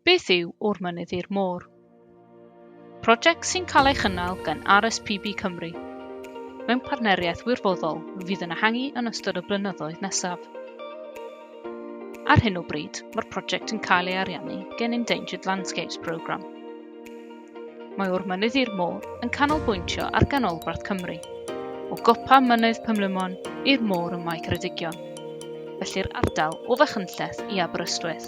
Beth yw O'r Mynydd i'r Môr? Prosiect sy'n cael ei chynnal gan RSPB Cymru, mewn partneriaeth wirfoddol fydd yn ehangu yn ystod y blynyddoedd nesaf. Ar hyn o bryd, mae'r prosiect yn cael ei ariannu gan Endangered Landscapes Programme. Mae o'r mynydd i'r môr yn canolbwyntio ar ganolbarth Cymru, o gopa Mynydd Pumlumon i'r môr ym Mae Ceredigion, felly'r ardal o Fachynlleth i Aberystwyth.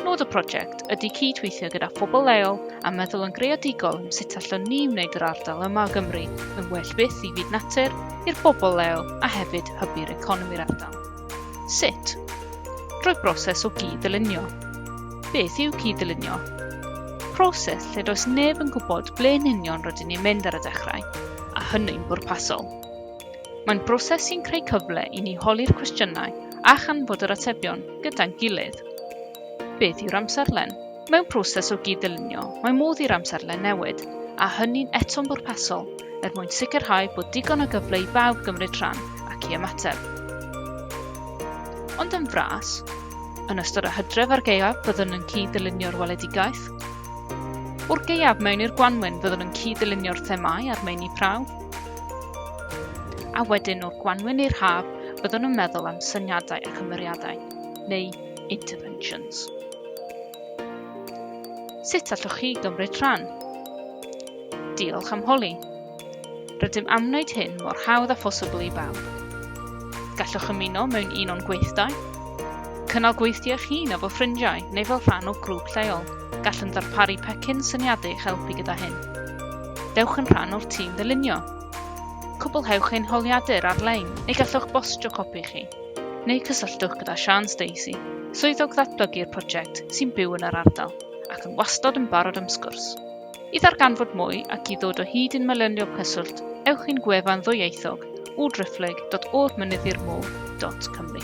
Nod y prosiect ydy cyd-weithio gyda phobl leol a meddwl yn greadigol am sut allwn ni wneud yr ardal yma o Gymru yn well byth i fyd natur, i'r bobl leol a hefyd hybu'r economi'r ardal. Sut? Drwy broses o gyd-ddylunio. Beth yw cyd-ddylunio? Proses lle does neb yn gwybod ble yn union rydyn ni'n mynd ar y dechrau, a hynny'n bwrpasol. Mae'n broses sy'n creu cyfle i ni holi'r cwestiynau a chanfod yr atebion gyda'n gilydd. Beth yw'r amserlen? Mewn proses o gyd-ddylunio, mae modd i'r amserlen newid, a hynny'n eto'n bwrpasol, er mwyn sicrhau bod digon o gyfle i bawb gymryd rhan ac i ymateb. Ond yn fras, yn ystod y hydref a'r gaeaf byddwn yn cyd-ddylunio'r weledigaeth. O'r gaeaf mewn i'r gwanwyn fyddwn yn cyd-ddylunio'r themâu a'r meini prawf. A wedyn o'r gwanwyn i'r haf byddwn yn meddwl am syniadau a chymeriadau, neu Interventions. Sut allwch chi gymryd rhan? Diolch am holi. Rydym am wneud hyn mor hawdd a phosibl i bawb. Gallwch ymuno mewn un o'n gweithdai, cynnal gweithdy eich hun efo ffrindiau neu fel rhan o grŵp lleol. Gallwn ddarparu pecyn syniadau i'ch helpu gyda hyn. Dewch yn rhan o'r tîm ddylunio. Cwblhewch ein holiadur ar-lein neu gallwch bostio copi chi. neu cysylltwch gyda Siân Stacey, Swyddog Ddatblygu'r Prosiect sy'n byw yn yr ardal ac yn wastod yn barod am sgwrs. I ddarganfod mwy ac i ddod o hyd i'n manylion cyswllt, ewch i'n gwefan ddwyieithog www.oddmynyddirmôr.cymru.